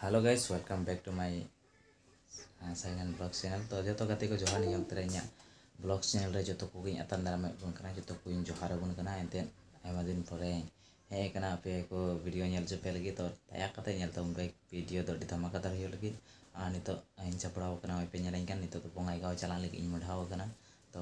hello guys welcome back to my Sainan blog channel ᱛᱚ ᱡᱚᱛᱚ ᱜᱟᱛᱮ ᱠᱚ ᱡᱚᱦᱟᱨ ᱱᱤᱭᱟᱹ ᱚᱠᱛᱮ ᱨᱮ ᱤᱧᱟᱹᱜ ᱵᱞᱚᱜ ᱪᱮᱱᱮᱞ ᱨᱮ ᱡᱚᱛᱚ ᱠᱚᱜᱮᱧ ᱟᱛᱟᱝ ᱫᱟᱨᱟᱢᱮᱫ ᱵᱚᱱ ᱠᱟᱱᱟ ᱡᱚᱛᱚ ᱠᱚᱧ ᱡᱚᱦᱟᱨ ᱟᱵᱚᱱ ᱠᱟᱱᱟ ᱮᱱᱛᱮᱫ ᱟᱭᱢᱟ ᱫᱤᱱ ᱯᱚᱨᱮ ᱦᱮᱡ ᱟᱠᱟᱱᱟ ᱟᱯᱮ ᱠᱚ ᱵᱷᱤᱰᱤᱭᱳ ᱧᱮᱞ ᱦᱚᱪᱚ ᱯᱮ ᱞᱟᱹᱜᱤᱫ ᱛᱚ ᱫᱟᱭᱟ ᱠᱟᱛᱮ ᱧᱮᱞ ᱛᱟᱵᱚᱱ ᱯᱮ ᱵᱷᱤᱰᱤᱭᱳ ᱫᱚ ᱟᱹᱰᱤ ᱫᱷᱟᱢᱟᱠᱟ ᱫᱟᱨ ᱦᱩᱭᱩᱜ ᱞᱟᱹᱜᱤᱫ ᱟᱨ ᱱᱤᱛᱚᱜ ᱤᱧ ᱥᱟᱯᱲᱟᱣ ᱟᱠᱟᱱᱟ ᱱᱚᱜᱼᱚᱭ ᱯᱮ ᱧᱮᱞᱤᱧ ᱠᱟᱱ ᱱᱤᱛᱚᱜ ᱫᱚ ᱵᱚᱸᱜᱟᱭᱜᱟᱶ ᱪᱟᱞᱟᱜ ᱞᱟᱹᱜᱤᱫ ᱤᱧ ᱢᱚᱰᱷᱟᱣ ᱟᱠᱟᱱᱟ ᱛᱚ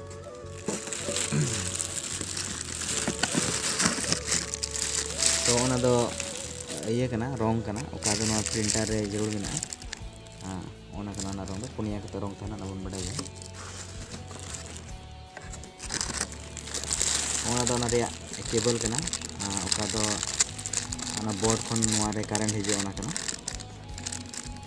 ᱛᱚ ᱚᱱᱟ ᱫᱚ ᱤᱭᱟᱹ ᱠᱟᱱᱟ ᱨᱚᱝ ᱠᱟᱱᱟ ᱚᱠᱟ ᱫᱚ ᱱᱚᱣᱟ ᱯᱨᱤᱱᱴᱟᱨ ᱨᱮ ᱡᱟᱹᱨᱩᱲ ᱢᱮᱱᱟᱜᱼᱟ ᱦᱮᱸ ᱚᱱᱟ ᱠᱟᱱᱟ ᱚᱱᱟ ᱨᱚᱝ ᱫᱚ ᱯᱩᱱᱭᱟ ᱠᱟᱛᱮ ᱨᱚᱝ ᱛᱟᱦᱮᱱᱟ ᱚᱱᱟ ᱵᱚᱱ ᱵᱟᱰᱟᱭ ᱜᱮᱭᱟ ᱚᱱᱟ ᱫᱚ ᱚᱱᱟ ᱨᱮᱭᱟᱜ ᱠᱮᱵᱚᱞ ᱠᱟᱱᱟ ᱚᱠᱟ ᱫᱚ ᱚᱱᱟ ᱵᱳᱨᱰ ᱠᱷᱚᱱ ᱱᱚᱣᱟ ᱨᱮ ᱠᱟᱨᱮᱱᱴ ᱦᱤᱡᱩᱜᱼᱟ ᱚᱱᱟ ᱠᱟᱱᱟ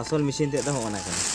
ᱟᱥᱚᱞ ᱢᱮᱥᱤᱱ ᱛᱮᱫ ᱫᱚ ᱦᱚᱸᱜᱼᱚ ᱱᱟ ᱠᱟᱱᱟ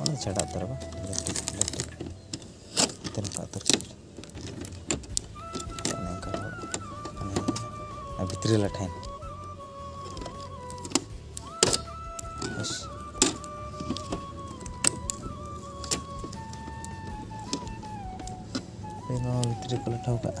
ᱚᱱᱟ ᱪᱷᱟᱰᱟ ᱩᱛᱟᱹᱨᱚᱜᱼᱟ ᱞᱟᱹᱴᱤᱡ ᱞᱟᱹᱴᱤᱡ ᱛᱮ ᱱᱚᱝᱠᱟ ᱩᱛᱟᱹᱨ ᱪᱟᱵᱟ ᱚᱱᱮ ᱚᱱᱠᱟ ᱚᱱᱮ ᱵᱷᱤᱛᱨᱤ ᱞᱟᱴᱷᱟᱭᱮᱱ ᱵᱮᱥ ᱱᱚᱣᱟ ᱵᱷᱤᱛᱨᱤ ᱠᱚ ᱞᱟᱴᱷᱟᱣ ᱠᱟᱜᱼᱟ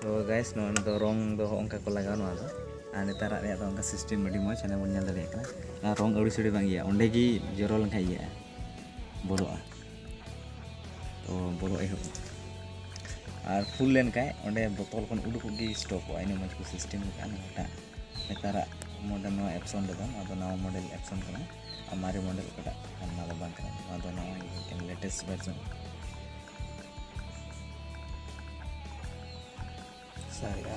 ᱛᱚ ᱜᱟᱭᱥ ᱱᱚᱣᱟ ᱫᱚ ᱨᱚᱝ ᱫᱚ ᱚᱱᱠᱟ ᱠᱚ ᱞᱟᱜᱟᱣᱟ ᱱᱚᱣᱟ ᱫᱚ ᱟᱨ ᱱᱮᱛᱟᱨᱟᱜ ᱨᱮᱭᱟᱜ ᱫᱚ ᱚᱱᱠᱟ ᱥᱤᱥᱴᱮᱢ ᱟᱹᱰᱤ ᱢᱚᱡᱽ ᱦᱟᱱᱮ ᱵᱚᱱ ᱧᱮᱞ ᱫᱟᱲᱮᱭᱟᱜ ᱠᱟᱱᱟ ᱟᱨ ᱨᱚᱝ ᱟᱹᱲᱤ ᱥᱟᱹᱲᱤ ᱵᱟᱝ ᱤᱭᱟᱹᱜᱼᱟ ᱚᱸᱰᱮ ᱜᱮ ᱡᱚᱨᱚ ᱞᱮᱱᱠᱷᱟᱱ ᱤᱭᱟᱹᱜᱼᱟ ᱵᱚᱞᱚᱜᱼᱟ ᱛᱚ ᱵᱚᱞᱚ ᱮᱦᱚᱵ ᱟᱨ ᱯᱷᱩᱞ ᱞᱮᱱᱠᱷᱟᱱ ᱚᱸᱰᱮ ᱵᱚᱛᱚᱞ ᱠᱷᱚᱱ ᱩᱰᱩᱠᱚᱜ ᱜᱮ ᱥᱴᱚᱯᱚᱜᱼᱟ ᱤᱱᱟᱹ ᱢᱚᱡᱽ ᱠᱚ ᱥᱤᱥᱴᱮᱢ ᱟᱠᱟᱫᱼᱟ ᱱᱚᱣᱟᱴᱟᱜ ᱱᱮᱛᱟᱨᱟᱜ ᱢᱚᱰᱮᱞ ᱱᱚᱣᱟ ᱮᱯᱥᱚᱱ ᱨᱮᱫᱚ ᱱᱚᱣᱟ ᱫᱚ ᱱᱟᱣᱟ ᱢᱚᱰᱮᱞ ᱮᱯᱥᱚᱱ ᱠᱟᱱᱟ ᱟᱨ ᱢᱟᱨᱮ ᱢᱚᱰᱮᱞ ᱚᱠᱟᱴᱟᱜ ᱠᱟᱱᱟ ᱱᱚᱣᱟ ᱫᱚ ᱵᱟᱝ ᱠᱟᱱᱟ ᱱᱚᱣᱟ ᱫᱚ ᱱᱟᱣᱟ ᱢᱤᱫᱴᱮᱱ ᱞᱮᱴᱮᱥᱴ ᱵᱷᱟᱨᱡᱚᱱ ᱥᱟᱨᱮᱜᱼᱟ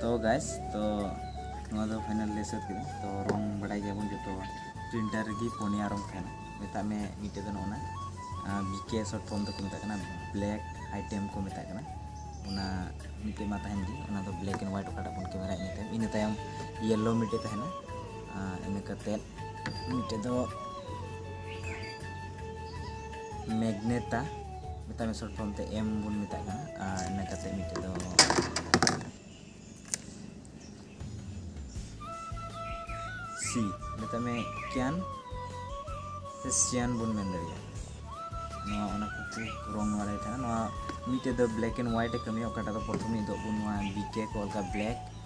ᱛᱚ ᱜᱟᱭᱥ ᱛᱚ ᱱᱚᱣᱟ ᱫᱚ ᱯᱷᱟᱭᱱᱟᱞ ᱞᱮ ᱥᱟᱹᱛ ᱠᱮᱫᱟ ᱛᱚ ᱨᱚᱝ ᱵᱟᱰᱟᱭ ᱜᱮᱭᱟᱵᱚᱱ ᱡᱚᱛᱚ ᱯᱨᱤᱱᱴᱟᱨ ᱨᱮᱜᱮ ᱯᱩᱱᱭᱟ ᱨᱚᱝ ᱛᱟᱦᱮᱱᱟ ᱢᱮᱛᱟᱜ ᱢᱮ ᱢᱤᱫᱴᱮᱡ ᱫᱚ ᱱᱚᱜᱼᱚᱱᱟ ᱵᱤᱠᱮ ᱥᱚᱨᱴ ᱯᱷᱚᱨᱢ ᱫᱚᱠᱚ ᱢᱮᱛᱟᱜ ᱠᱟᱱᱟ ᱵᱞᱮᱠ ᱟᱭᱴᱮᱢ ᱠᱚ ᱢᱮᱛᱟᱜ ᱠᱟᱱᱟ ᱚᱱᱟ ᱢᱤᱫᱴᱮᱡ ᱢᱟ ᱛᱟᱦᱮᱱ ᱜᱮ ᱚᱱᱟ ᱫᱚ ᱵᱞᱮᱠ ᱮᱱᱰ ᱦᱳᱣᱟᱭᱤᱴ ᱚᱠᱟᱴᱟᱜ ᱵᱚᱱ ᱠᱮᱢᱮᱨᱟ ᱤᱱᱟᱹ ᱛᱟᱭᱚᱢ ᱤᱱᱟᱹ ᱛᱟᱭᱚᱢ ᱤᱭᱮᱞᱳ ᱢᱤᱫᱴᱮᱡ ᱛᱟᱦᱮᱱᱟ ᱤᱱᱟᱹ ᱠᱟᱛᱮᱫ ᱢᱤᱫᱴᱮᱡ ᱫᱚ ᱢᱮᱜᱱᱮᱴᱟ ᱢᱮᱛᱟᱜ ᱢᱮ ᱥᱚᱨᱴ ᱯᱷᱚᱨᱢ ᱛᱮ ᱮᱢ ᱵᱚᱱ ᱢᱮᱛᱟᱜ ᱠᱟᱱᱟ ᱟᱨ ᱤᱱᱟᱹ ᱠᱟᱛᱮᱫ ᱢᱤᱫᱴᱮᱡ ᱫᱚ ᱥᱤ ᱢᱮᱛᱟᱜ ᱢᱮ ᱠᱮᱱ ᱥᱮ ᱥᱤᱭᱟᱱ ᱵᱚᱱ ᱢᱮᱱ ᱫᱟᱲᱮᱭᱟᱜᱼᱟ ᱱᱚᱣᱟ ᱚᱱᱟ ᱠᱚᱠᱚ ᱨᱚᱝ ᱵᱟᱲᱟᱭ ᱛᱟᱦᱮᱱᱟ ᱱᱚᱣᱟ ᱢᱤᱫᱴᱮᱡ ᱫᱚ ᱵᱞᱮᱠ ᱮᱱᱰ ᱦᱳᱣᱟᱭᱤᱴ ᱮ ᱠᱟᱹᱢᱤᱭᱟ ᱚᱠᱟᱴᱟᱜ ᱫᱚ ᱯᱨᱚᱛᱷᱚᱢ ᱢᱤᱫ ᱫᱚ ᱱᱚᱣᱟ ᱵᱤᱠᱮ ᱠᱚ ᱚᱞ ᱠᱟᱜᱼᱟ ᱵᱞᱮᱠ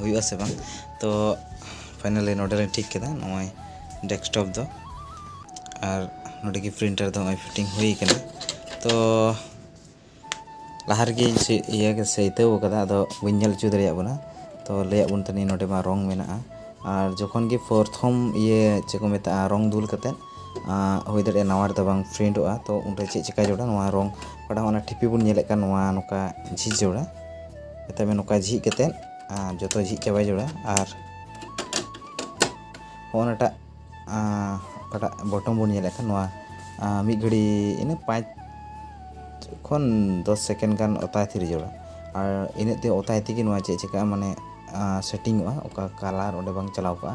ᱦᱩᱭᱩᱜᱼᱟ ᱥᱮ ᱵᱟᱝ ᱛᱚ ᱯᱷᱟᱭᱱᱟᱞᱤ ᱱᱚᱰᱮ ᱞᱤᱧ ᱴᱷᱤᱠ ᱠᱮᱫᱟ ᱱᱚᱜᱼᱚᱭ ᱰᱮᱥᱠᱴᱚᱯ ᱫᱚ ᱟᱨ ᱱᱚᱰᱮ ᱜᱮ ᱯᱨᱤᱱᱴᱟᱨ ᱫᱚ ᱱᱚᱜᱼᱚᱭ ᱯᱷᱤᱴᱤᱝ ᱦᱩᱭ ᱠᱟᱱᱟ ᱛᱚ ᱞᱟᱦᱟ ᱨᱮᱜᱮ ᱤᱭᱟᱹ ᱥᱟᱹᱭᱛᱟᱹᱣ ᱠᱟᱫᱟ ᱟᱫᱚ ᱵᱟᱹᱧ ᱧᱮᱞ ᱦᱚᱪᱚ ᱫᱟᱲᱮᱭᱟᱜ ᱵᱚᱱᱟ ᱛᱚ ᱞᱟᱹᱭᱟᱜ ᱵᱚᱱ ᱛᱟᱦᱮᱱᱤᱧ ᱱᱚᱰᱮ ᱢᱟ ᱨᱚᱝ ᱢᱮᱱᱟᱜᱼᱟ ᱟᱨ ᱡᱚᱠᱷᱚᱱ ᱜᱮ ᱯᱨᱚᱛᱷᱚᱢ ᱤᱭᱟᱹ ᱪᱮᱫ ᱠᱚ ᱢᱮᱛᱟᱜᱼᱟ ᱨᱚᱝ ᱫᱩᱞ ᱠᱟᱛᱮᱫ ᱦᱩᱭ ᱫᱟᱲᱮᱭᱟᱜᱼᱟ ᱱᱟᱣᱟ ᱨᱮᱫᱚ ᱵᱟᱝ ᱯᱷᱨᱤᱱᱴᱚᱜᱼᱟ ᱛᱚ ᱩᱱᱨᱮ ᱪᱮᱫ ᱪᱤᱠᱟᱹ ᱡᱟᱹᱨᱩᱲᱟ ᱱᱚᱣᱟ ᱨᱚᱝ ᱚᱠᱟᱴᱟᱜ ᱚᱱᱟ ᱴᱷᱤᱯᱤ ᱵᱚᱱ ᱧᱮᱞᱮᱫ ᱠᱟᱱ ᱱᱚᱣᱟ ᱱᱚᱝᱠᱟ ᱡᱷᱤᱡ ᱡᱟᱹᱨᱩᱲᱟ ᱢᱮᱛᱟᱜ ᱢᱮ ᱱᱚᱝᱠᱟ ᱡᱷᱤᱡ ᱠᱟᱛᱮᱫ ᱟᱨ ᱡᱚᱛᱚ ᱡᱷᱤᱡ ᱪᱟᱵᱟᱭ ᱡᱟᱹᱨᱩᱲᱟ ᱟᱨ ᱦᱚᱸᱜᱼᱚ ᱱᱟᱴᱟᱜ ᱚᱠᱟᱴᱟᱜ ᱵᱚᱴᱚᱢ ᱵᱚᱱ ᱧᱮᱞᱮᱫ ᱠᱟᱱ ᱱᱚᱣᱟ ᱢᱤᱫ ᱜᱷᱟᱹᱲᱤ ᱤᱱᱟᱹ ᱯᱟᱸᱪ ᱠᱷᱚᱱ ᱫᱚᱥ ᱥᱮᱠᱮᱱᱰ ᱜᱟᱱ ᱚᱛᱟᱭ ᱛᱷᱤᱨ ᱡᱟᱹᱨᱩᱲᱟ ᱟᱨ ᱤᱱᱟᱹᱜ ᱛᱮ ᱚᱛᱟᱭ ᱛᱮᱜᱮ ᱱᱚᱣᱟ ᱪᱮᱫ ᱪᱤᱠᱟᱹᱜᱼᱟ ᱢᱟᱱᱮ ᱥᱮᱴᱤᱝᱚᱜᱼᱟ ᱚᱠᱟ ᱠᱟᱞᱟᱨ ᱚᱸᱰᱮ ᱵᱟᱝ ᱪᱟᱞᱟᱣ ᱠᱚᱜᱼᱟ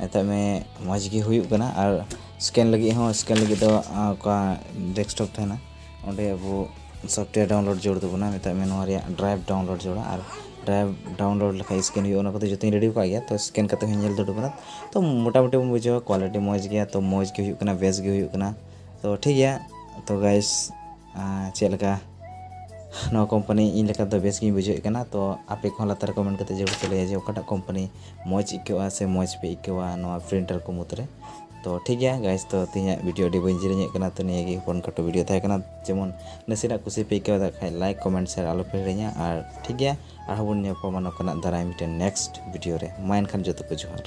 ᱢᱮᱛᱟᱜ ᱢᱮ ᱢᱚᱡᱽ ᱜᱮ ᱦᱩᱭᱩᱜ ᱠᱟᱱᱟ ᱟᱨ ᱥᱠᱮᱱ ᱞᱟᱹᱜᱤᱫ ᱦᱚᱸ ᱥᱠᱮᱱ ᱞᱟᱹᱜᱤᱫ ᱫᱚ ᱚᱠᱟ ᱰᱮᱥᱠᱴᱚᱯ ᱛᱟᱦᱮᱱᱟ ᱚᱸᱰᱮ ᱟᱵᱚ ᱥᱚᱯᱷᱴᱣᱮᱭᱟᱨ ᱰᱟᱣᱩᱱᱞᱳᱰ ᱡᱟᱹᱨᱩᱲ ᱛᱟᱵᱚᱱᱟ ᱢᱮᱛᱟᱜ ᱢᱮ ᱱᱚᱣᱟ ᱨᱮᱭᱟᱜ ᱰᱨᱟᱭᱤᱵᱷ ᱰᱟᱣᱩᱱᱞᱳᱰ ᱡᱟᱹᱨᱩᱲᱟ ᱟᱨ ᱰᱨᱟᱭᱤᱵᱷ ᱰᱟᱣᱩᱱᱞᱳᱰ ᱞᱮᱠᱷᱟᱡ ᱥᱠᱮᱱ ᱦᱩᱭᱩᱜᱼᱟ ᱚᱱᱟ ᱠᱚᱫᱚ ᱡᱚᱛᱚᱧ ᱨᱮᱰᱤ ᱟᱠᱟᱫ ᱜᱮᱭᱟ ᱛᱚ ᱥᱠᱮᱱ ᱠᱟᱛᱮ ᱦᱚᱸᱧ ᱧᱮᱞ ᱫᱟᱲᱮ ᱠᱟᱱᱟ ᱛᱚ ᱢᱳᱴᱟᱢᱩᱴᱤ ᱵᱚᱱ ᱵᱩᱡᱷᱟᱹᱣᱟ ᱠᱳᱣᱟᱞᱤᱴᱤ ᱢᱚᱡᱽ ᱜᱮᱭᱟ ᱛᱚ ᱢᱚᱡᱽ ᱜᱮ ᱦᱩᱭᱩᱜ ᱠᱟᱱᱟ ᱵᱮᱥ ᱜᱮ ᱦᱩᱭᱩᱜ ᱠᱟᱱᱟ ᱛᱚ ᱴᱷᱤᱠ ᱜᱮᱭᱟ ᱛᱚ ᱜᱟᱭᱥ ᱪᱮᱫ ᱞᱮᱠᱟ ᱱᱚᱣᱟ ᱠᱳᱢᱯᱟᱱᱤ ᱤᱧ ᱞᱮᱠᱟ ᱫᱚ ᱵᱮᱥ ᱜᱮᱧ ᱵᱩᱡᱷᱟᱹᱣᱮᱫ ᱠᱟᱱᱟ ᱛᱚ ᱟᱯᱮ ᱠᱚᱦᱚᱸ ᱞᱟᱛᱟᱨ ᱨᱮ ᱠᱚᱢᱮᱱᱴ ᱠᱟᱛᱮ ᱡᱟᱹᱨᱩᱲ ᱯᱮ ᱞᱟᱹᱭᱟ ᱡᱮ ᱚᱠᱟᱴᱟᱜ ᱠᱳᱢᱯᱟᱱᱤ ᱢᱚᱡᱽ ᱟᱹᱭᱠᱟᱹᱜᱼᱟ ᱥᱮ ᱢᱚᱡᱽ ᱯᱮ ᱟᱹᱭᱠᱟᱹᱣᱟ ᱱᱚᱣᱟ ᱯᱨᱤᱱᱴᱟᱨ ᱠᱚ ᱢᱩᱫᱽ ᱨᱮ ᱛᱚ ᱴᱷᱤᱠ ᱜᱮᱭᱟ ᱜᱟᱭᱥ ᱛᱚ ᱛᱮᱦᱮᱧᱟᱜ ᱵᱷᱤᱰᱤᱭᱳ ᱟᱹᱰᱤ ᱵᱟᱹᱧ ᱡᱤᱨᱤᱧᱮᱫ ᱠᱟᱱᱟ ᱛᱚ ᱱᱤᱭᱟᱹ ᱜᱮ ᱦᱚᱯᱚᱱ ᱠᱷᱟᱴᱚ ᱵᱷᱤᱰᱤᱭᱳ ᱛᱟᱦᱮᱸ ᱠᱟᱱᱟ ᱡᱮᱢᱚᱱ ᱱᱟᱥᱮᱱᱟᱜ ᱠᱩᱥᱤ ᱯᱮ ᱟᱹᱭᱠᱟᱹᱣ ᱫᱟ ᱠᱷᱟᱡ ᱞᱟᱭᱤᱠ ᱠᱚᱢᱮᱱᱴ ᱥᱮᱭᱟᱨ ᱟᱞᱚ ᱯᱮ ᱦᱤᱲᱤᱧᱟ ᱟᱨ ᱴᱷᱤᱠ ᱜᱮᱭᱟ ᱟᱨᱦᱚᱸ ᱵᱚᱱ ᱧᱟᱯᱟᱢᱟ ᱱᱚᱝᱠᱟᱱᱟᱜ ᱫᱟᱨᱟᱭ ᱢᱤᱫᱴᱮᱱ ᱱᱮᱠᱥᱴ ᱵᱷᱤᱰᱤᱭᱳ ᱨᱮ ᱢᱟ ᱮᱱᱠᱷᱟᱱ ᱡᱚᱛᱚ ᱠᱚ ᱡᱚᱦᱟᱨ